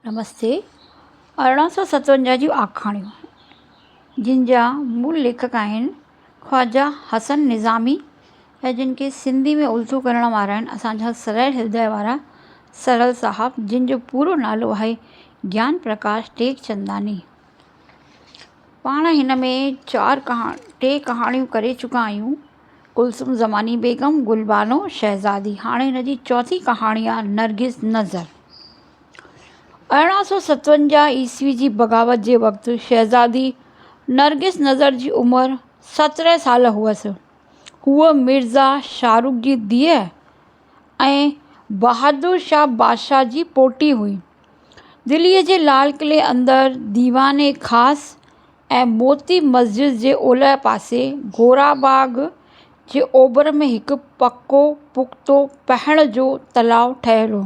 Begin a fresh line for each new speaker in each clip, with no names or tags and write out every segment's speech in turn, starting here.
نمستي، ارڙهن سؤ ستونجاهه جون آکاڻيون، جن جا مول ليکڪ آهن خواجه حسن نظامي ۽ جن کي سنڌي ۾ الٿو ڪرڻ وارا آهن اسان جا سرل هردئه وارا سرل صاحب جن جو پورو نالو آهي گيان پرڪاش ٽيڪچنداني. پاڻ هن ۾ چار ڪهاڻيون ٽي ڪهاڻيون ڪري چڪا آهيون، ڪلثوم زماني بيگم، گلبانو شهزادي، هاڻي هن جي چوٿين ڪهاڻي آهي نرگس نظر. ارڙهن سؤ ستونجاهه عيسوي جي بغاوت جي وقت شهزادي نرگس نظر جي عمر سترهن سال هئس. هوء مرزا شاهه رخ جي ڌيء ۽ بهادر شاهه بادشاهه جي پوٽي هئي. دليء جي لال قلعي اندر ديوان خاص ۽ موتي مسجد جي اولهه پاسي گورا باغ جي اوڀر ۾ هڪ پڪو پختو پهڻ جو تلاء ٺهيل هو.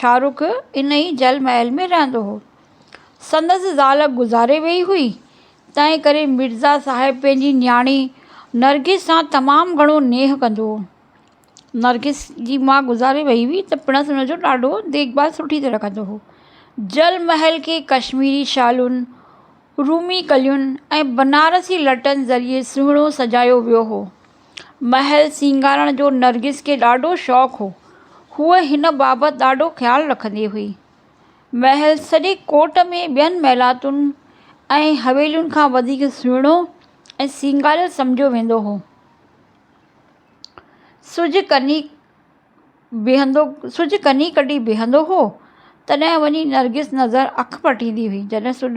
شاهه رخ ان ئي جل محل ۾ رهندو هو. سندس زال گذاري ويئي هئي، تنهن ڪري مرزا صاحب پنهنجي نياڻي نرگس سان تمام گهڻو نيهه ڪندو هو. نرگس جي ماء گذاري ويئي هئي ته پڻس ان جو ڏاڍو ديک ڀال سٺي طرح ڪندو هو. جل محل کي ڪشميري شالن، رومي ڪلين ۽ بنارسي لٽن ذريعي سهڻو سجايو ويو هو. محل سينگارڻ جو نرگس کي ڏاڍو شوق هو. هوء هن بابت ڏاڍو خيال رکندي هئي. محل سڄي ڪوٽ ۾ ٻين محلاتن ۽ حويلين کان وڌيڪ سهڻو ۽ سينگاريل سمجهيو ويندو هو. سج ڪني بيهندو سج ڪني ڪڍي بيهندو هو، تڏهن وڃي نرگس نظر اک پٽيندي هئي. جڏهن سڄ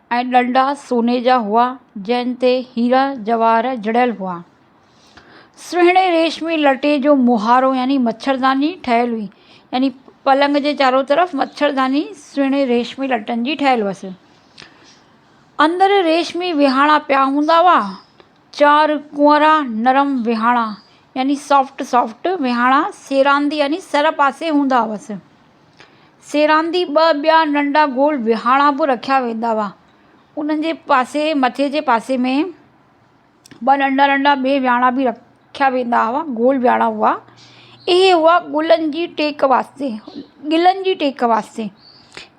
۽ ڏنڊا سوني جا هئا، جن تي هيرا جواهر جڙيل هئا. سهڻي ريشمي لٽي جو مهارو يعني مڇرداني ٺهيل هئي، يعني پلنگ جي چارو طرف مڇرداني سهڻي ريشمي لٽن جي ٺهيل هئس. اندر ريشمي ويهاڻا پيا هوندا هئا، چار ڪنوارا نرم ويهاڻا يعني سافٽ سافٽ ويهاڻا سيراندي يعني سر پاسي هوندا هئس. سيراندي ٻه ٻيا ننڍا گول وهاڻا به رکيا ويندا هئا. انهن جي پاسي مٿي جي پاسي ۾ ٻه ننڍا ننڍا ٻئي وهاڻا به رکيا ويندا هئا، گول وهاڻا هئا. اهي هئا گلن جي ٽيڪ واسطي، گلن جي ٽيڪ واسطي.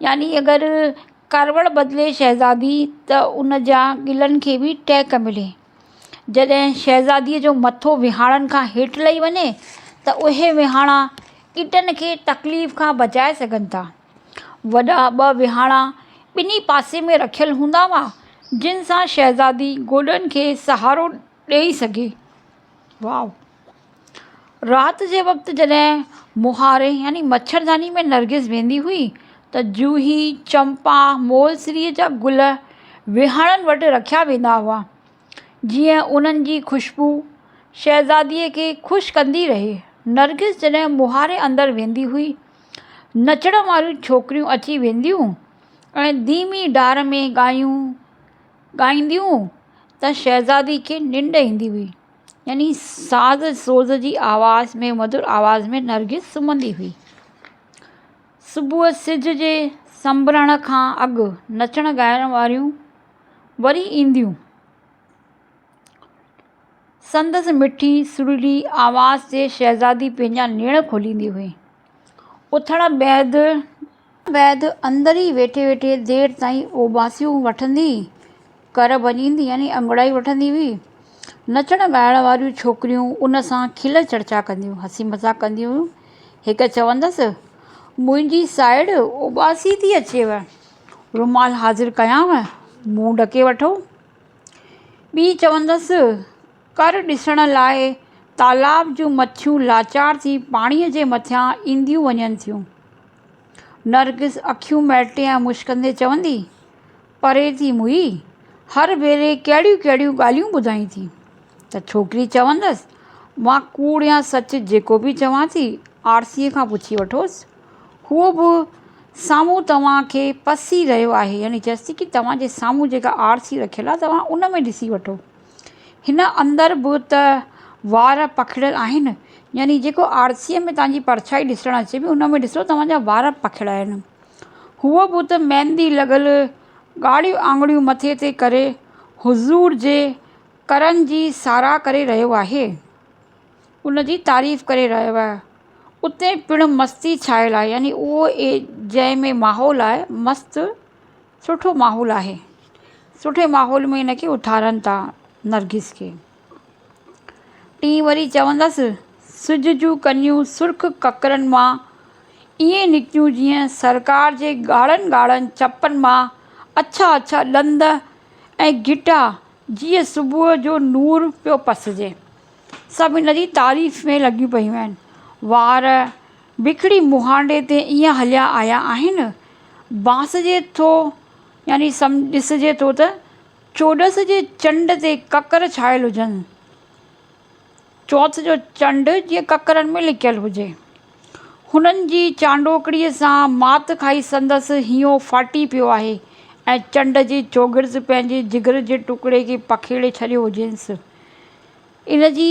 يعني اگر ڪاروڙ بدلي شهزادي ته ان جا گلن کي به ٽيڪ ملي. جڏهن شهزاديء جو مٿو وهاڻن کان هيٺ لهي وڃي ته اهي وهاڻا ڪٽن کي تڪليف کان بچائي سگهن ٿا. وڏا ٻه وهاڻا ٻنهي پاسي ۾ رکيل هوندا هئا، جن سان شهزادي گوڏن کي سهارو ڏيئي سگهي. رات جي وقت جڏهن مونهاري يعني مڇرداني ۾ نرگس ويندي هئي ته جوهي، چمپا، مولسري جا گل وهاڻن وٽ رکيا ويندا هئا، جيئن انهن جي خوشبو شهزاديء کي خوش ڪندي رهي. نرگس جڏهن مونهاري اندر ويندي هئي، نچڻ واريون ڇوڪريون اچي وينديون ۽ ڌيمي ڍار ۾ ڳايون ڳائينديون ته شهزادي کي ننڊ ايندي هئي. يعني ساز سوز جي آواز ۾ مڌر آواز ۾ نرگس سمهندي هئي صبح سج جي سنبرڻ کان اڳ نچڻ ڳائڻ واريون وري اينديون سندس مٺي سرلي آواز تي شهزادي پنهنجا نيڻ کوليندي هئي اٿڻ بعد بعد اندر ئي ويٺي ويٺي دير تائين اوٻاسيون وٺندي ڪر ڀڄيندي يعني انگڙائي وٺندي هئي. نچڻ ڳائڻ واريون ڇوڪريون ان سان کل چرچا ڪنديون، هسي مذاق ڪنديون هيون. هڪ چوندس، منهنجي سائڙ اوٻاسي ٿي اچيو، رومال حاضر ڪيانء، منهن ڍڪي وٺو. ٻي چوندس، ڪر ڏسڻ لاء تالاب جون مڇيون لاچار ٿي پاڻيء جي مٿان اينديون وڃن ٿيون. نرگس اکيون مهٽي ۽ مشڪندي چوندي پري ٿي موهي، هر ڀيري ڪهڙيون ڪهڙيون ڳالهيون ٻڌائين ٿي، ته ڇوڪري چوندس، مان ڪوڙ يا سچ جيڪو به چوان ٿي، آرسيء کان پڇي وٺوس. هو به سامهون توهان کي پسي رهيو آهي، يعني چيس ٿي ته توهان جي سامهون جيڪا آرسي رکيل آهي، توهان ان ۾ ڏسي وٺو. هن اندر به ته وار پکڙيل آهن يعني جيڪو آرسيء ۾ توهان جي پرڇائي ڏسڻ اچي پئي ان ۾ ڏسو توهان جا وار پکڙيل آهن هوء به ته ميندي لڳل ڳاڙهيون آڱريون مٿي تي ڪري حضور جي قرن جي ساراهه ڪري رهيو آهي ان جي تعريف ڪري رهيو آهي اتي پڻ مستي ڇانيل آهي يعني اهو جنهن ۾ ماحول آهي مست سٺو ماحول آهي سٺي ماحول ۾ ان کي اٿارن ٿا نرگس کي ٽين وري چوندس سج جون ڪنيون سرخ ڪڪرن مان ائين نڪتيون جيئن سرڪار جي ڳاڙهن ڳاڙهن چپن مان اڇا اڇا ڏند ۽ گهٽا جيئن صبح جو نور پيو پسجي سڀ ان جي تعريف ۾ لڳيون پيون آهن وار وڪڙي مهانڊي تي ايئن هليا آيا آهن. بانسجي ٿو يعني سم ڏسجي ٿو ته چوڏس جي چنڊ تي ڪڪر ڇايل هجن. چوٿ جو چنڊ جيئن ڪڪرن ۾ لڪيل هجي. هنن جي چانڊوڪڙي سان مات کائي سندس هينئون ڦاٽي پيو آهي ۽ چنڊ جي چوگرد پنهنجي جگر جي ٽڪڙي کي پکيڙي ڇڏيو هجينس. ان جي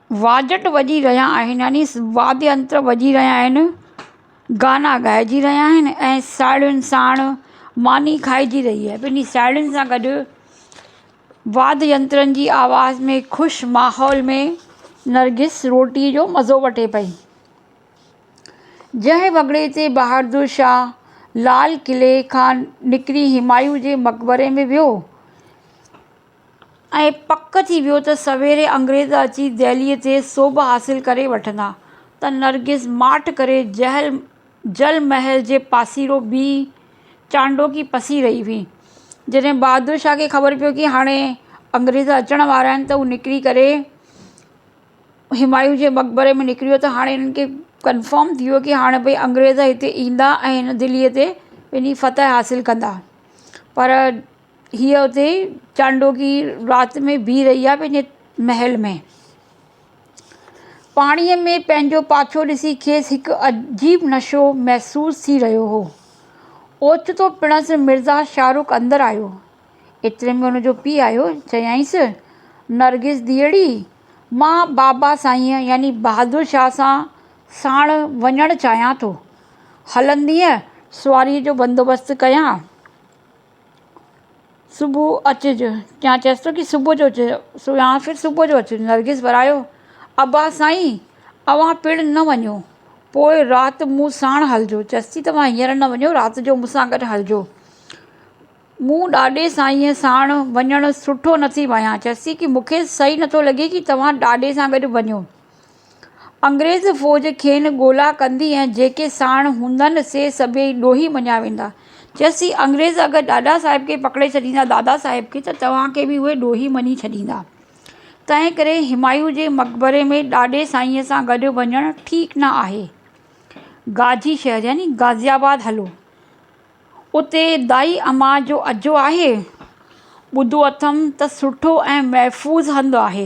واجٽ وڄي رهيا آهن يعني واد ينتر وڄي رهيا آهن گانا ڳائجي رهيا آهن ۽ ساهيڙين ساڻ ماني کائجي رهي آهي ٻنهي ساهيڙين سان گڏ واد ينترن جي آواز ۾ خوش ماحول ۾ نرگس روٽي جو مزو وٺي پئي جنهن وڳڙي تي بهادر شاهه لال قلعي کان نڪري همايون جي مقبري ۾ ويو ائين پڪ ٿي ويو ته سويري انگريز اچي دهليء تي سوڀ حاصل ڪري وٺندا ته نرگس ماٺ ڪري جهل جل محل جي پاسيرو بيهي چانڊوڪي پسي رهي هئي. جڏهن بهادر شاهه کي خبر پيو ڪي هاڻي انگريز اچڻ وارا آهن ته هو نڪري ڪري همايون جي مقبري ۾ نڪريو ته هاڻي هنن کي ڪنفرم ٿي ويو ڪي هاڻي ڀئي انگريز هتي ايندا ۽ هن دهليء تي پنهنجي فتح حاصل ڪندا پر ھيء اتي چانڊوڪي رات ۾ بيھي رھي آھي پنھنجي محل ۾. پاڻيء ۾ پنھنجو پاڇو ڏسي کيس ھڪ عجيب نشو محسوس ٿي رھيو ھو. اوچتو پڻس مرزا شاھ رخ اندر آيو. ايتري ۾ ھن جو پيء آيو. چيائينس، نرگس ڌيئڙي، مان بابا سائينء يعني بھادر شاھ سان ساڻ وڃڻ چاھيان ٿو. ھلندينء سواريء جو بندوبست ڪيان؟ صبح اچج يا چيس تو ڪي صبح جو اچ يا ڦر صبح جو اچ نرگس ورايو ابا سائين اوهان پڻ نه وڃو پوء رات مون ساڻ هلجو چيس ٿي توهان هينئر نه وڃو رات جو مون سان گڏ هلجو مون ڏاڏي سائينء ساڻ وڃڻ سٺو نٿي ڀانئيان چيس ٿي ڪي مون کي صحيح نٿو لڳي ڪي توهان ڏاڏي سان گڏ وڃو انگريز فوج کين ڳولا ڪندي ۽ جيڪي ساڻ هوندن سي سڀيئي ڏوهي مڃيا ويندا. چيس ٿي، انگريز اگر ڏاڏا صاحب کي پڪڙي ڇڏيندا دادا صاحب کي ته توهان کي به اهي ڏوهي مڃي ڇڏيندا. تنهن ڪري همايون جي مقبري ۾ ڏاڏي سائينء سان گڏ وڃڻ ٺيڪ نه آهي. گاجي شهر يعني غازي آباد هلو. اتي دائي اما جو اجهو آهي. ٻڌو اٿم ته سٺو ۽ محفوظ هنڌ آهي.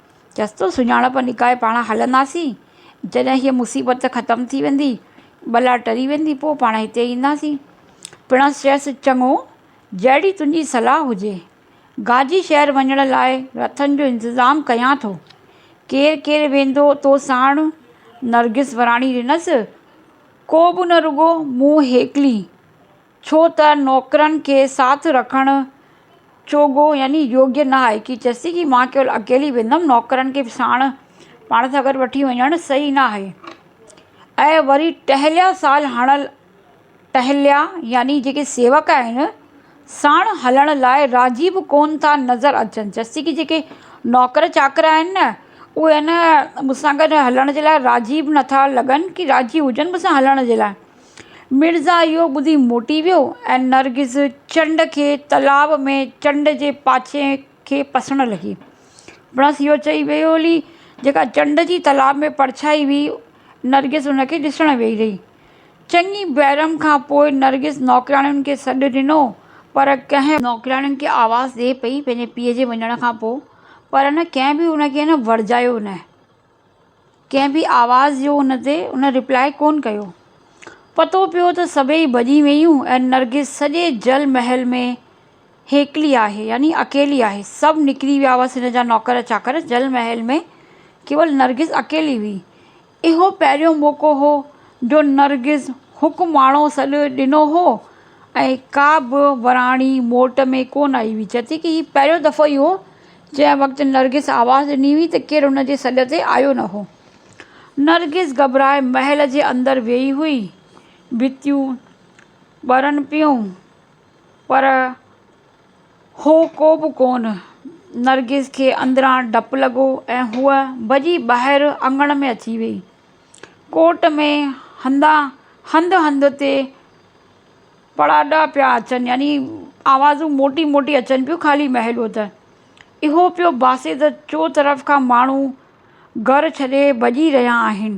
چس تو سڃاڻپ نڪاهي پاڻ هلنداسين. جڏهن هيء مصيبت ختم ٿي ويندي، بلا ٽري ويندي پوء پاڻ هتي اينداسين. پڻس چيس، چڱو، جهڙي تنهنجي صلاح هجي. گاجي شهر وڃڻ لاء رٿن جو انتظام ڪيان ٿو. ڪير ڪير ويندو تو ساڻ؟ نرگس وراڻي ڏنس، ڪو به نه رڳو مون هيڪلي. ڇو ته نوڪرن کي ساٿ رکڻ چوڳو يعني يوگيه نه آهي ڪي چيسي ڪي مان ڪيول اڪيلي ويندم نوڪرن کي به ساڻ پاڻ سان گڏ وٺي وڃڻ صحيح نه آهي ۽ وري ٽهليا سال هڻل ٽهليا يعني جيڪي سيوڪ آهن ساڻ هلڻ لاء راضي به ڪون ٿا نظر اچن چيسي ڪي جيڪي نوڪر چاڪر آهن نه اهي ان مون سان گڏ هلڻ جي لاء راضي به نٿا لڳن ڪي راضي هجن مون سان هلڻ جي لاء مرزا اهو ٻڌي موٽي ويو ۽ نرگس چنڊ کي تلاء ۾ چنڊ جي پاڇي کي پسڻ لڳي. پڻس اهو چئي ويئي هلي، جيڪا چنڊ جي تلاء ۾ پرڇائي هئي، نرگس ان کي ڏسڻ ويئي رهي. چڱي بيرم کان پوء نرگس نوڪرياڻين کي سڏ ڏنو، پر ڪنهن. نوڪرياڻين کي آواز ڏئي پئي پنهنجي پيء جي وڃڻ کان پوء، پر نه ڪنهن به ان کي ورجايو نه. ڪنهن به آواز جو ان تي ان ريپلاء ڪونه ڪيو. پتو پيو ته سڀيئي ڀڄي ويون ۽ نرگس سڄي جل محل ۾ هيڪلي آهي يعني اڪيلي آهي. سڀ نڪري ويا هئس هن جا نوڪر چاڪر جل محل ۾ ڪيول نرگس اڪيلي هئي. اهو پهريون موقعو هو جو نرگس حڪماڻو سڏ ڏنو هو ۽ ڪا به وراڻي موٽ ۾ ڪونه آئي هئي. چئي ٿي ڪي هي پهريون دفعو ئي هو جنهن وقت نرگس آواز ڏني هئي ته ڪير ان جي سڏ تي آيو نه هو. نرگس گهٻرائي محل جي اندر ويئي هئي. ڀتيون ٻرن پيون پر هو ڪو به ڪونه. نرگس کي اندران ڊپ لڳو ۽ هوء ڀڄي ٻاهر اڱڻ ۾ اچي ويئي. ڪوٽ ۾ هنڌان هنڌ هنڌ تي پڙاڏا پيا اچن يعني آوازون موٽي موٽي اچن پيون خالي محلو ته اهو پيو ڀاسي ته چو طرف کان ماڻهو گهر ڇڏي ڀڄي رهيا آهن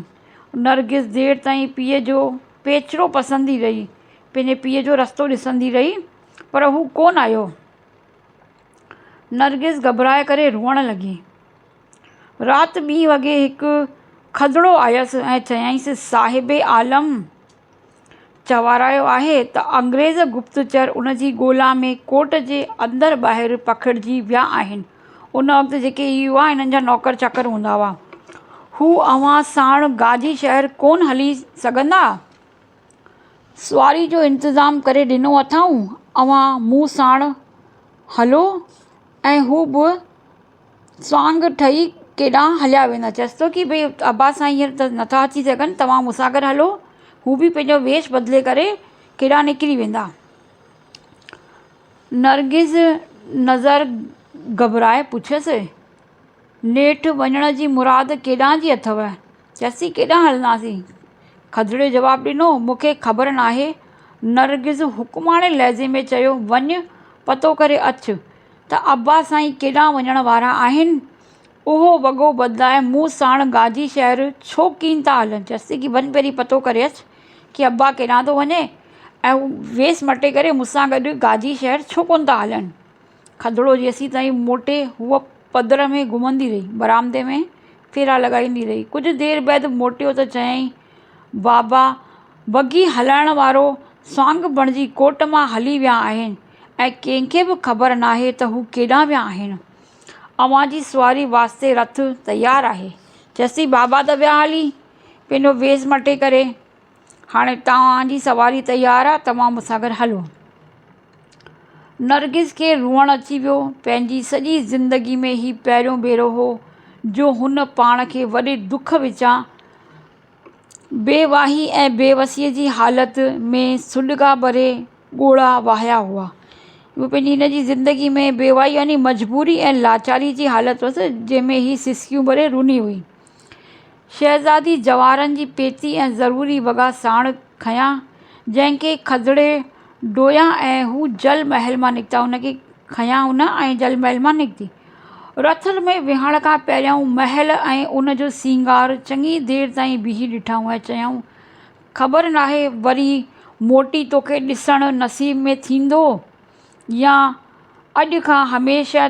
نرگس دير تائين پيء جو پيچرو پسندي رهي پنهنجي پيء جو رستو ڏسندي رهي پر هو ڪون آيو نرگس گهٻرائي ڪري روئڻ لڳي رات ٻي وڳي هڪ کدڙو آيس ۽ چيائينس صاحب عالم چوارايو آهي ته انگريز گپتچر ان جي ڳولا ۾ ڪورٽ جي اندر ٻاهر پکڙجي ويا آهن. ان وقت جيڪي يووا هنن جا نوڪر چاڪر هوندا هئا، هو اوهان ساڻ گاجي شهر ڪونه هلي سگهندا؟ سواري جو انتظام ڪري ڏنو اٿائون، اوهان مون ساڻ هلو ۽ هو به سانگ ٺهي ڪيڏانهن هليا ويندا. چيس ٿو ڪي ڀئي عباس سائين هينئر ته نٿا اچي سگهن، توهان مون سان گڏ هلو. هو به پنهنجو ويش بدلي ڪري ڪيڏانهن نڪري ويندا. نرگس نظر گهٻرائي پڇيس، نيٺ وڃڻ جي مراد ڪيڏانهن جي اٿئو؟ چرسي ڪيڏانهن هلنداسين؟ کدڙي جواب ڏنو، مون کي خبر ناهي. نرگس حڪماڻي لهجي ۾ چيو، وڃ پتو ڪري اچ ته عباس سائين ڪيڏانهن وڃڻ وارا آهن. اهو وڳو بدلائي مون ساڻ گاجي شهر ڇو ڪين ٿا هلن؟ چرسي ڪي وڃ پهرين پتو ڪري اچ ڪي عباس ڪيڏانهن ٿو وڃي ۽ هو ويس مٽي ڪري مون سان گڏ گاجي شهر ڇو ڪونه ٿا هلن؟ کدڙو جيسين تائين موٽي هوء پڌر ۾ گهمندي رهي. برآمدي ۾ ڦيرا لڳائيندي رهي. ڪجهه دير بعد موٽيو ته چيائين، بابا، بگي هلائڻ وارو سانگ بڻجي ڪوٽ مان هلي ويا آهن ۽ ڪنهن کي به خبر ناهي ته هو ڪيڏانهن ويا آهن. اوهان جي سواري واسطي رٿ تيار آهي. چيسين، بابا ته ويا هلي، پنهنجو ويس مٽي ڪري. هاڻي توهان جي سواري تيار آ توهان مون سان گڏ هلو. نرگس کي روئڻ اچي ويو. پنهنجي سڄي زندگي ۾ هي پهريون ڀيرو هو جو هن پاڻ کي وڏي دک وچان بيواهي ۽ بيوسيء جي حالت ۾ سڏڪا ڀري ڳوڙها وهايا هئا. اهو پنهنجي هن جي زندگي ۾ بيواهي يعني مجبوري ۽ لاچاري جي حالت هئس جنهن ۾ هي سسڪيون ڀري روني هئي. شهزادي جواهرن جي پيتي ۽ ضروري وڳا ساڻ کنيا، جنهن کي کدڙي ڊويا ۽ هو جل محل مان نڪتا. ان کي کنيا هن ۽ جل محل مان نڪتي. رٿ ۾ ويهڻ کان پهريائون محل ۽ ان جو سينگار چڱي دير تائين بيهي ڏٺائون ۽ چيائون، خبر ناهي وري موٽي توکي ڏسڻ نصيب ۾ ٿيندو يا اڄ کان هميشه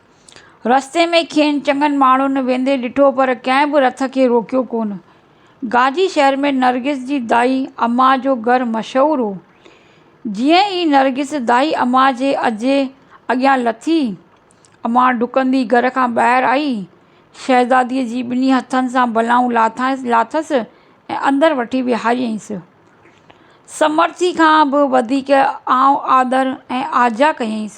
رستي ۾ کين چڱن ماڻهن ويندي ڏٺو پر ڪنهن به رٿ کي روڪيو ڪونه. گاجي شهر ۾ نرگس جي دائي اما جو گهر مشهور هو. جيئن ئي نرگس دائي اما جي اجهي اڳيان لٿي، اما ڊڪندي گهر کان ٻاهر آئي، شهزاديء جي ٻنهي هٿن سان بلائون لاٿس ۽ اندر وٺي ويهاريائينس. سمرٿي کان به وڌيڪ آئون آڌر ۽ آجيا ڪيائينس.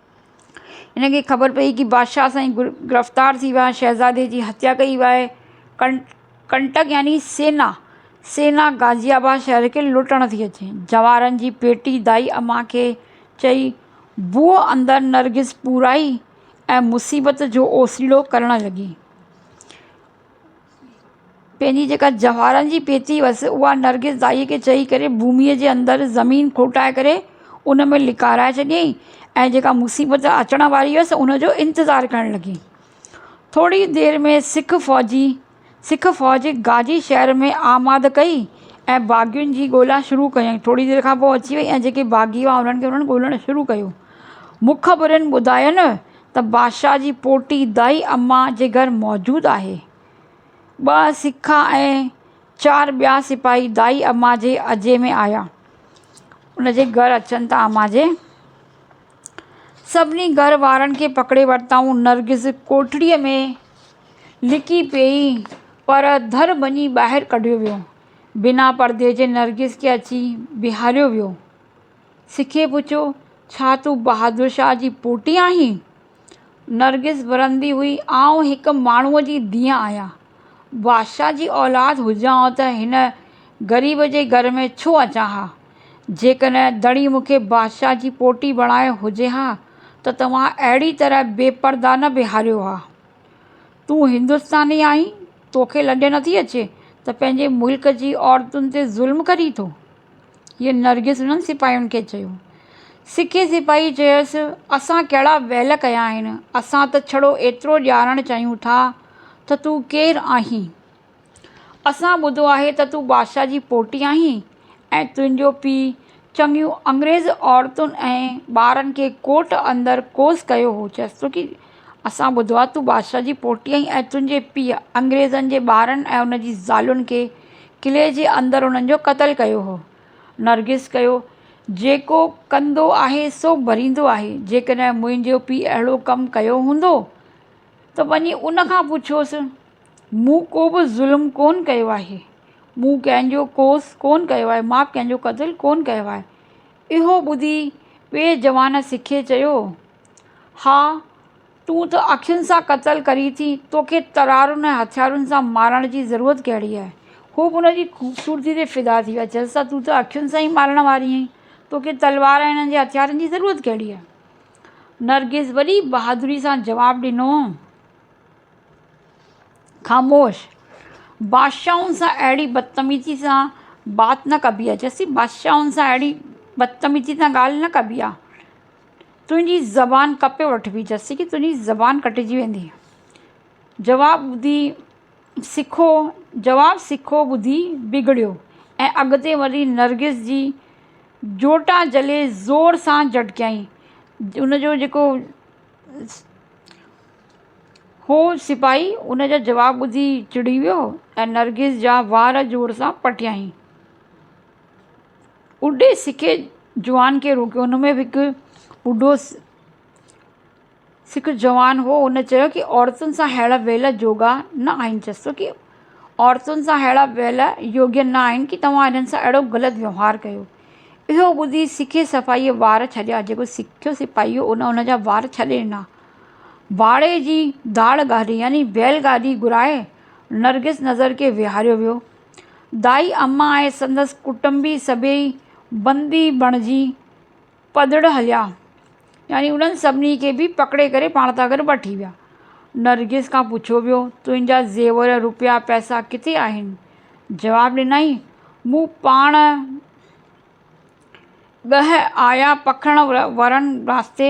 هن کي خبر پئي ته بادشاهه سائين گرفتار ٿي ويا آهن شهزادي جي هتيا ڪئي وئي آهي ڪن ڪنٽڪ يعني سينا سينا غازي آباد شهر کي لٽڻ ٿي اچي جواهرن جي پيٽي دائي امان کي چئي بوء اندر نرگس پورائي ۽ مصيبت جو اوسيڙو ڪرڻ لڳي پنهنجي جيڪا جواهرن جي پيتي هئس، اها نرگس دائيء کي چئي ڪري ڀوميء جي اندر زمين کوٽائي ڪري ان ۾ لڪارائي ڇڏيائين ۽ جيڪا مصيبت اچڻ واري هئس، ان جو انتظار ڪرڻ لڳي. ٿوريء دير ۾ سک فوجي، سک فوج گاجي شهر ۾ آمد ڪئي ۽ باغين جي ڳولا شروع ڪيائين. ٿوريء دير کان پوء اچي وئي ۽ جيڪي باغي هئا، انهن کي انهن ڳولڻ شروع ڪيو. مخبرن ٻڌاين ته بادشاهه جي پوٽي دائي اما جي گهر موجود آهي. ٻه سکه ۽ چار ٻيا سپاهي دائي اما جي اجهي ۾ آيا. ان جي گهر اچن ته اما جي سڀني گهر وارن کي پڪڙي ورتائون. نرگس ڪوٺڙيء ۾ لڪي پيئي پر ڌر ڀڃي ٻاهر ڪڍيو ويو. بنا پردي جي نرگس کي اچي بيهاريو ويو. سکيء پڇيو، ڇا تون بهادر شاهه جي پوٽي آهين؟ نرگس ورندي هئي، آئون هڪ ماڻهوء جي ڌيء آهيان. بادشاهه جي اولاد هجان ها ته هن غريب جي گهر ۾ ڇو اچان ها؟ جيڪڏهن ڌڻي مون کي بادشاهه جي پوٽي بڻايو هجي ها ته توهان اهڙي طرح بي پرده نه بيهاريو ها. تون هندستاني آهين، توکي لڄ نٿي اچي ته پنهنجي ملڪ جي عورتن تي ظلم ڪرين ٿو؟ ائين نرگس انهن سپاهين کي چيو. سکي سپاهي چيس، اسان ڪهڙا ويل ڪيا آهن، اسان ته ڇڙو ايترو ڄاڻڻ چاهيون ٿا ته تون ڪير آهين؟ اسان ٻڌو آهي ته تون بادشاهه جي پوٽي آهين ۽ تنهنجو پيء چڱيون انگريز عورتن ۽ ٻارن کي ڪوٽ اندر ڪوس ڪيو هو چيس ٿو ڪي اسان ٻڌو آهي تون بادشاهه جي پوٽي آهين ۽ تنهنجي پيء انگريزن جي ٻارن ۽ ان جي زالين کي قلعي جي اندر انهن جو قتل ڪيو هو. نرگس ڪهيو، جيڪو ڪندو آهي سو ڀريندو آهي. جيڪڏهن منهنجو پيء اهڙو ڪم ڪيو هوندو ته وڃي ان کان پڇوس. مون ڪو به ظلم ڪونه ڪيو آهي. مون ڪنهن جو ڪوس ڪونه ڪيو آهي. مان ڪنهن جو قتل ڪونه ڪيو آهي. اهو ٻڌي ٻئي جوان سکي چيو. ها، تون ته اکين سان قتل ڪرين ٿي، توکي ترارن ۽ هٿيارن سان مارڻ جي ضرورت ڪهڙي آهي؟ هو به ان جي خوبصورتيء تي فدا ٿي ويا، چيس ها، تون ته اکين سان ئي مارڻ واري آهين، توکي تلوار ۽ انهن جي هٿيارن جي ضرورت ڪهڙي آهي؟ نرگس وڏي بهادريء سان جواب ڏنو، خاموش! بادشاهن سان اهڙي بدتميزيء سان بات نه ڪبي آهي، چيس ٿي، بادشاهن سان اهڙي بدتميزيء سان ڳالهه نه ڪبي آهي. تنهنجي زبان ڪپي وٺبي، جسي ڪي تنهنجي زبان ڪٽجي ويندي. جواب ٻڌي سکو جواب سکو ٻڌي بگڙيو ۽ اڳتي وڃي نرگس جي جوٽا جهلي زور سان جهٽڪيائين. ان جو جيڪو هو سپاهي ان جا جواب ٻڌي چڙي ويو ۽ نرگس جا وار زور سان پٽيائين. ٻڍي سک جوان کي روڪيو ان ۾ به هڪ ٻڍو سک جوان هو ان چيو ڪي عورتن سان ههڙا ويلا جوڳا نه آهن چيس ٿو ڪي عورتن سان ههڙا ويلا يوگيا نه آهن ڪي توهان انهن سان اهڙو غلط ويوهار ڪيو اهو ٻڌي سک سپاهيء وار ڇڏيا جيڪو سک سپاهي هو ان ان جا وار ڇڏي ڏنا واڙي جي داڙ گاڏي يعني بيل گاڏي گهرائي نرگس نظر کي ويهاريو ويو دائي اما ۽ سندس ڪٽنبي سڀيئي بندي بڻجي پڌڙ هليا يعني انهن سڀني کي به پڪڙي ڪري پاڻ سان گڏ وٺي ويا. نرگس کان پڇيو ويو، تنهنجا زيور، روپيا، پئسا ڪٿي آهن؟ جواب ڏنائين، مون پاڻ ڳهه آيا پکڻ ورن رستي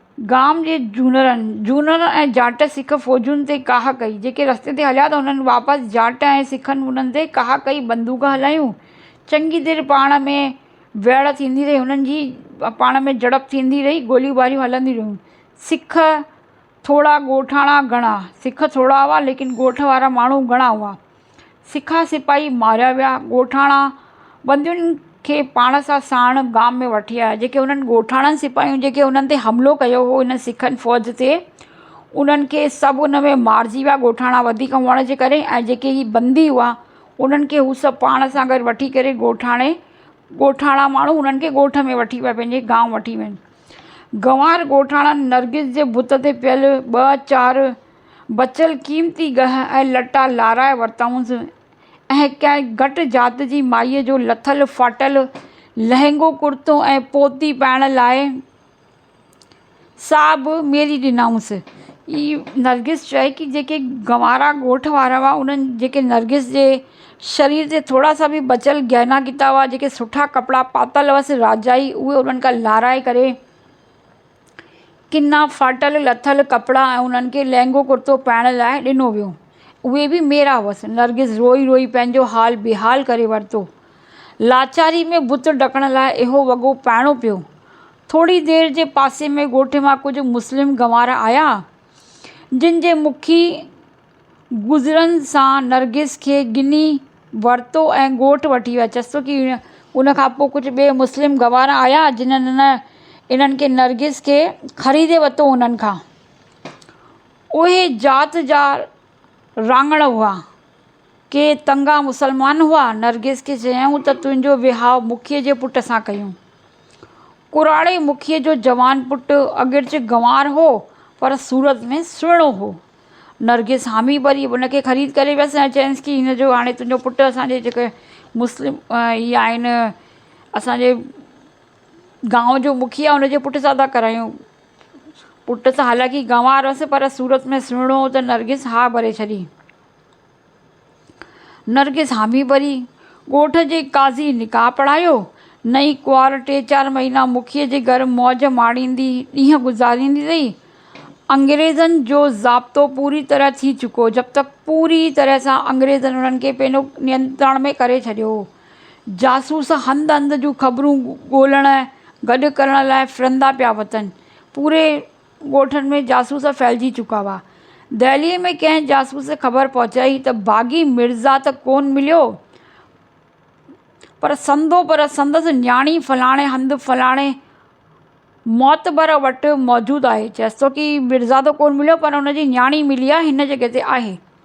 گام جي جونرن، جونر ۽ جاٽ سک فوجن تي ڪاهه ڪئي، جيڪي رستي تي هليا ته انهن واپس جاٽ ۽ سکن انهن تي ڪاهه ڪئي بندوق هلايون، چڱي دير پاڻ ۾ ويڙهه ٿيندي رهي انهن جي پاڻ ۾ جهڙپ ٿيندي رهي گوليون ٻاريون هلنديون رهيون سک ٿورا ڳوٺاڻا گهڻا، سک ٿورا هئا ليڪن ڳوٺ وارا ماڻهو گهڻا هئا سکا سپاهي ماريا ويا. ڳوٺاڻا بندين کي پاڻ سان ساڻ گام ۾ وٺي آيا، جيڪي انهن ڳوٺاڻن سپاهين جيڪي انهن تي حملو ڪيو هو، انهن سکن فوج تي، انهن کي سڀ ان ۾ مارجي ويا، ڳوٺاڻا وڌيڪ هئڻ جي ڪري ۽ جيڪي هي بندي هئا، انهن کي هو سڀ پاڻ سان گڏ وٺي ڪري ڳوٺاڻي، ڳوٺاڻا ماڻهو انهن کي ڳوٺ ۾ وٺي ويا، پنهنجي گانء وٺي وين. گنوار ڳوٺاڻن نرگس جي بت تي پيل ٻه چار. بچيل قيمتي ڳهه ۽ لٽا لارائي ورتائونس ۽ ڪنهن گهٽ ذات جي مائيء جو لٿل ڦاٽل لهنگو ڪرتو ۽ پوتي پائڻ لاء سا به ميلي ڏنائونس. هي نرگس چيائين ڪي جيڪي گنوارا ڳوٺ وارا هئا، انهن جيڪي نرگس جي شرير تي ٿورا سا به بچيل گهنا گهتا هئا، جيڪي سٺا ڪپڙا پاتل هئس راجائي، اهي انهن کان لارائي ڪري، ڪنا ڦاٽل لٿل ڪپڙا ۽ انهن کي لهنگو ڪرتو پائڻ لاء ڏنو ويو. اهي به ميرا هئس. نرگس روئي روئي پنهنجو حال بيحال ڪري ورتو. لاچاري ۾ بت ڍڪڻ لاء اهو وڳو پائڻو پيو. ٿوري دير جي پاسي ۾ ڳوٺ مان ڪجهه مسلم گنوار آيا، جن جي مکي گذرڻ سان نرگس کي ڳني ورتو ۽ ڳوٺ وٺي ويا. چسوڪي ان کان پوء ڪجهه ٻئي مسلم گنوار آيا، جنھن انھن کي نرگس کي خريدي ورتو انھن کان. اھي ذات جا راڱڻ ھئا. ڪي تنگا مسلمان ھئا. نرگس کي چيائون ته تنھنجو ويھاء مکي جي پٽ سان ڪيون. ڪراڙي مکي جو جوان پٽ اگرچه گنوار ھو پر صورت ۾ سھڻو ھو. نرگس حامي وري ان کي خريد ڪري ويس ۽ چيائينس ڪي هن جو هاڻي تنهنجو پٽ اسانجي جيڪو مسلم هي آهن اسانجي گانو جو مکيه هن جي پٽ سان ٿا ڪرايون پٽ سان حالانڪه گنوار هوس پر صورت ۾ سهڻو هو ته نرگس ها ڀري ڇڏي نرگس حامي پري، ڳوٺ جي قاضي نڪاح پڙهايو. نئين ڪنوار ٽي چار مهينا مکيء جي گهر موج ماڻيندي ڏينهن گذاريندي رهي. انگريزن جو ضابطو پوريء طرح ٿي چڪو، جب تڪ پوريء طرح سان انگريزن انهن کي پنهنجو نينترڻ ۾ ڪري ڇڏيو هو. جاسوس هنڌ هنڌ جون خبرون ڳولڻ ۽ گڏ ڪرڻ لاء ڦرندا پيا وتن. پوري ڳوٺن ۾ جاسوس ڦهلجي چڪا هئا. دهليء ۾ ڪنهن جاسوس خبر پهچائي ته باغي مرزا ته ڪونه مليو، پر سندو پر سندس نياڻي فلاڻي هنڌ فلاڻي معتبر وٽ موجود آهي. چيس ٿو ڪي مرزا ته ڪونه مليو، پر هن جي نياڻي ملي آهي، هن جڳهه تي آهي.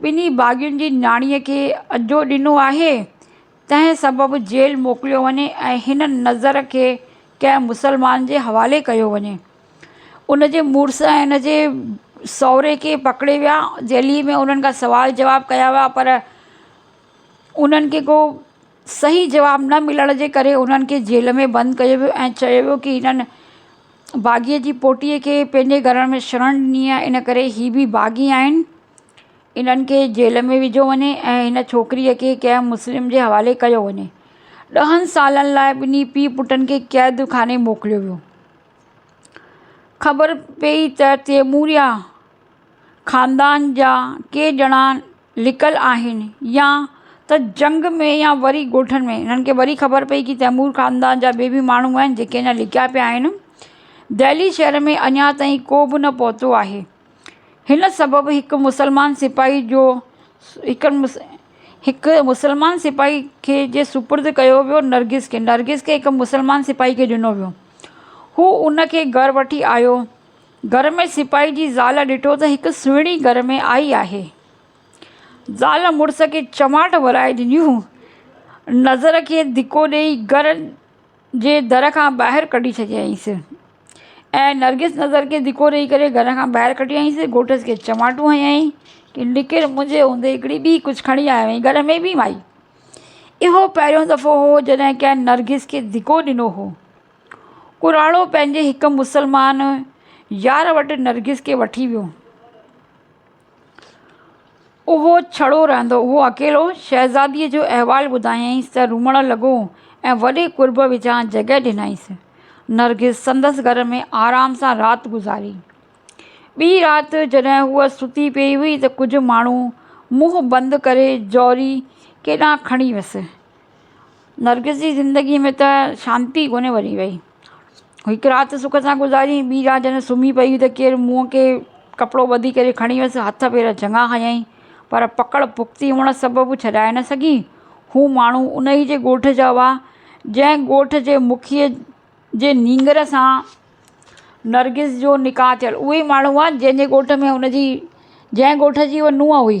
ٻنهي باغين جي نياڻيء کي اجهو ڏنو آهي، تنهن سبب جيل موڪليو وڃي ۽ هن نذر کي ڪنهن مسلمان جي حوالي ڪيو وڃي. ان جي مڙس ۽ ان جي سهري کي پڪڙي ويا. جيلي ۾ انهن کان سوال جواب ڪيا ويا پر انهن کي ڪو صحيح جواب نه ملڻ جي ڪري انهن کي جيل ۾ بند ڪيو ويو ۽ چيو ويو ڪي هنن باغيء جي پوٽيء کي پنهنجي گهرڻ ۾ شرڻ ڏني آهي ان ڪري هي به باغي آهن انهن کي جيل ۾ وجهيو وڃي ۽ هن ڇوڪريء کي ڪنهن مسلم جي حوالي ڪيو وڃي. ڏهن سالن لاء ٻنهي پيء پٽن کي قيد خاني موڪليو ويو. خبر پيئي ته تيموريا خاندان جا ڪي ڄڻا لڪل آهن يا ته جنگ ۾ يا وري ڳوٺن ۾ هنن کي وري خبر پئي ڪي تيمور خاندان جا ٻي به ماڻهو آهن جيڪي اڃا لڪيا پيا آهن دهلي شهر ۾ اڃا تائين ڪو به نه پهتو آهي هن سبب هڪ مسلمان سپاهي جو هڪ مس هڪ مسلمان سپاهي کي جي سپرد ڪيو ويو نرگس کي نرگس کي هڪ مسلمان سپاهي کي ڏنو ويو هو هنکي گهر وٺي آيو گهر ۾ سپاهي جي زال ڏٺو ته هڪ سهڻي گهر ۾ آئي آهي. زال مڙس کي چماٽ ورائي ڏنيون. نظر کي ڌڪو ڏيئي گهر جي در کان ٻاهر ڪڍي ڇڏيائينس. ۽ نرگس نظر کي ڌڪو ڏيئي ڪري گهر کان ٻاهر ڪڍيائينس. گهوٽس کي چماٽون هنيائين ته نڪر منهنجي هوندي هڪڙي ٻي ڪجهه کڻي آيو آهين گهر ۾ ڀي مائي. اهو پهريون دفعو هو جڏهن ڪنهن نرگس کي ڌڪو ڏنو هو. ڪراڙو پنهنجي هڪ مسلمان يار وٽ نرگس کي وٺي ويو. اهو ڇڙو رهندو هو. اڪيلو شهزاديء جو احوال ٻڌايائينس ته روئڻ لڳو ۽ وڏي قرب وچان جڳهه ڏنائينس. نرگس سندس گهر ۾ آرام سان رات گذاري. ٻي رات جڏهن هوء ستي پيئي هئي ته ڪجهه ماڻهو منهن بند ڪري جوري ڪيڏانهن کڻي ويس. نرگس جي زندگيء ۾ ته شانتي ڪونه وري وئي. هڪ رات سک سان گذاري، ٻي رات جڏهن سمهي پيئي ته ڪير منهن کي ڪپڙو ٻڌي ڪري کڻي ويس، هٿ پير چڱا هنيائين، پر پڪڙ پختي هئڻ سبب ڇڏائي نه سگهي. هو ماڻهو ان ئي جي ڳوٺ جا هئا، جنهن ڳوٺ جي مکيء جي نينگر سان نرگس جو نڪاح ٿيل. اهي ئي ماڻهو هئا، جنهن جي ڳوٺ ۾ هن جي جنهن ڳوٺ جي هوء نونهن هئي.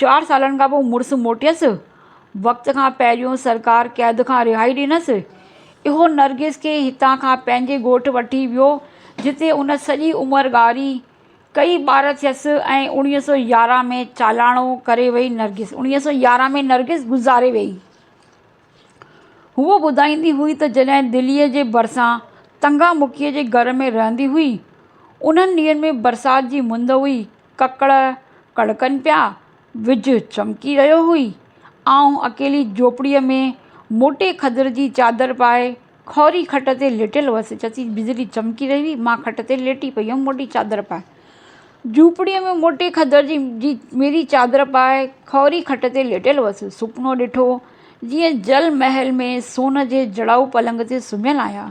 چار سالن کان پوء مڙس موٽيس، وقت کان پهريون سرڪار قيد کان رهائي ڏنس. اهو نرگس کي هتان کان پنهنجي ڳوٺ وٺي ويو، جتي ان سڄي عمر ڳاري، ڪيئي ٻار ٿيس ۽ اوڻيهه سؤ يارهن ۾ چالاڻو ڪري وئي نرگس. اوڻيهه سؤ يارهن ۾ نرگس گذاري ويئي. هوء ٻڌائيندي هئي ته جڏهن دليء جي ڀرسان تنگا مکيء جي گهر ۾ رهندي هئي، انهن ڏينهن ۾ برسات جي مند هئي. ڪڪڙ ڪڙڪن پيا، وجهه چمڪي رهيو هئي. آئون اڪيلي جهوپڙيء ۾ موٽي کدر جي چادر پائي، کهوري کٽ تي ليٽيل هئس. چتي بجلي چمڪي رهي هئي. مان کٽ تي ليٽي پئي هيم موٽي چادر پائي. جهوپڙيء ۾ موٽي کدر جي ميري چادر پائي، کهوري کٽ تي ليٽيل هئس. سپنو ڏٺو، جيئن جل محل ۾ سون جي جڙائو پلنگ تي سمهيل آهيان.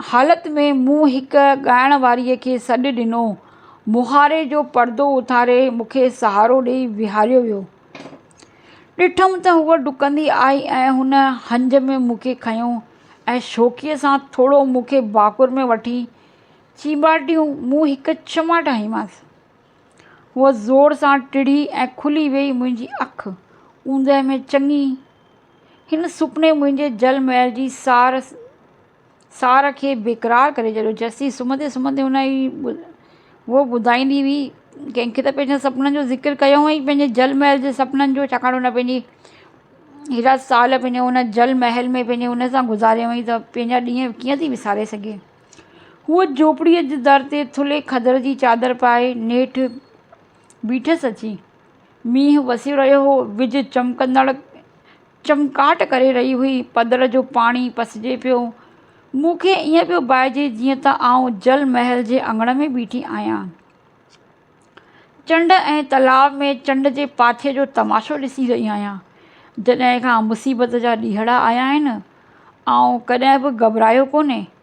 حالت ۾ مون هڪ ڳائڻ واريء کي سڏ ڏنو. مهاري جو پردو اٿاري مون کي سهارو ڏيئي ويهاريو ويو. ڏٺم ته هوء ڊڪندي آئي ۽ هن هنج ۾ مون کي کنيو ۽ شوخيء سان ٿورو مون کي ڀاڪر ۾ وٺي چينڀاٽيون مون هڪ چماٽ هنيمانس. هوء زور سان ٽڙي ۽ کلي ويئي منهنجي اک اوندهه ۾ چڱي هن سپني منهنجي جل محل جي سار سار کي بيقرار ڪري ڇڏيو. جسي سمهندي سمهندي هن ئي هوء ٻڌائيندي هئي، ڪنهن کي ته پنهنجن سپنن جو ذڪر ڪيو هئائين، پنهنجي جل محل جي سپنن جو، ڇاڪاڻ هن پنهنجي هيڏا سال پنهنجي هن جل محل ۾ پنهنجي هن سان گذاريا هئائين ته پنهنجا ڏينهن ڪيئن ٿي وساري سگهي. هوء جهوپڙيء جي در تي ٿلهي کدر جي چادر پائي نيٺ بيٺس اچي. مينهن وسي رهيو هو، ويجهه چمڪندڙ چمڪاٽ ڪري رهي هئي، پڌر جو پاڻي پسجي پيو. مون کي ائين پيو ڀائجي جيئن ته آئون جل محل جي اڱڻ ۾ بيٺي آهيان. چنڊ ۽ تلاء ۾ چنڊ جي پاڇي جو تماشو ڏسي رهي آهيان. جڏهن کان مصيبت جا ڏيهڙا آيا آهن، آئون ڪڏهن به گهٻرايو ڪونهي.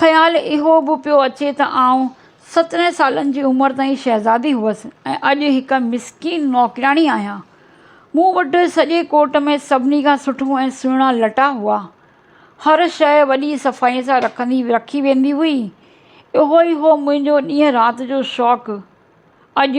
خيال اهو به پيو اچي ته آئون سترهن سالن جي عمر تائين شهزادي هئس ۽ اڄ هڪ مسڪين نوڪرياڻي آهيان. مون وٽ سڄي ڪورٽ ۾ سڀني کان سٺو ۽ سهڻا لٽا هئا. هر شيء وڏي صفائيء سان رکندي رکي ويندي هئي. اهو ئي هو منهنجو ڏينهن رات جو شوق. اڄ.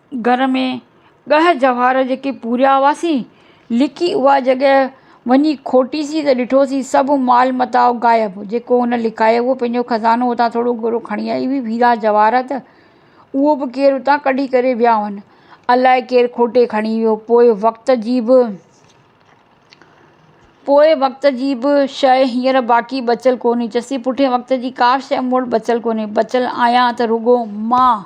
گهر ۾ ڳهه جهوار جيڪي پوريا هئاسين، لڪي اها جڳهه وڃي کوٽيسين ته ڏٺوسين سڀ مال متاع غائب، جيڪو هن لڪايو هو پنهنجو خزانو اتان ٿورو گهڻو کڻي آئي هئي، هيرا جواهرات ته اهو به ڪير اتان ڪڍي ڪري ويا هئن، الاء ڪير کوٽي کڻي ويو، پوء وقت جي به پوء وقت جي به شيء هينئر باقي بچيل ڪونهي، چيسين پٺئين وقت جي ڪابه شيء مون وٽ بچيل ڪونهي، بچيل آهيان ته رڳو مان.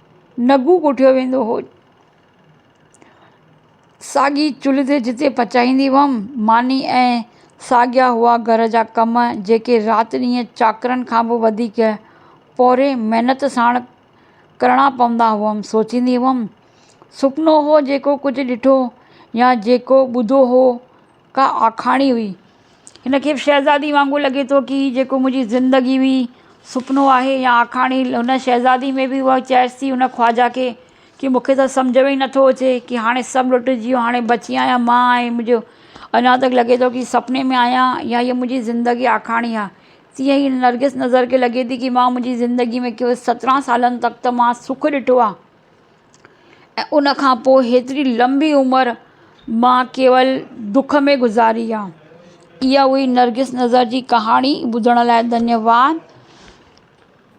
نگون ڪوٺيو ويندو هو. ساڳي چلهه تي جتي پچائيندي هئم ماني ۽ ساڳيا هئا گهر جا ڪم جيڪي رات ڏينهن چاڪرن کان به وڌيڪ پوري محنت ساڻ ڪرڻا پوندا هئم سوچيندي هئم سپنو هو جيڪو ڪجهه ڏٺو يا جيڪو ٻڌو هو ڪا آکاڻي هئي. هن کي به شهزادي وانگر لڳي ٿو ڪي جيڪو منهنجي زندگي هئي، سپنو آهي يا آکاڻي هن شهزادي ۾ به اها چيس ٿي هن خواجه کي ڪي مون کي ته سمجهه ۾ ئي نه ٿو اچي ڪي هاڻي سڀ لٽجي ويو هاڻي بچي آهيان مان ۽ منهنجو اڃا ته لڳي ٿو ڪي سپني ۾ آهيان يا هيء منهنجي زندگي آکاڻي آهي تيئن ئي نرگس نظر کي لڳي ٿي ڪي مان منهنجي زندگي ۾ ڪيو سترهن سالن تڪ ته مان سک ڏٺو آهي. ۽ ان کان پوء هيتري لمبي عمر مان ڪيول دک ۾ گذاري آ اها هئي نرگس نظر جي ڪهاڻي ٻڌڻ لاء ڌنيواد.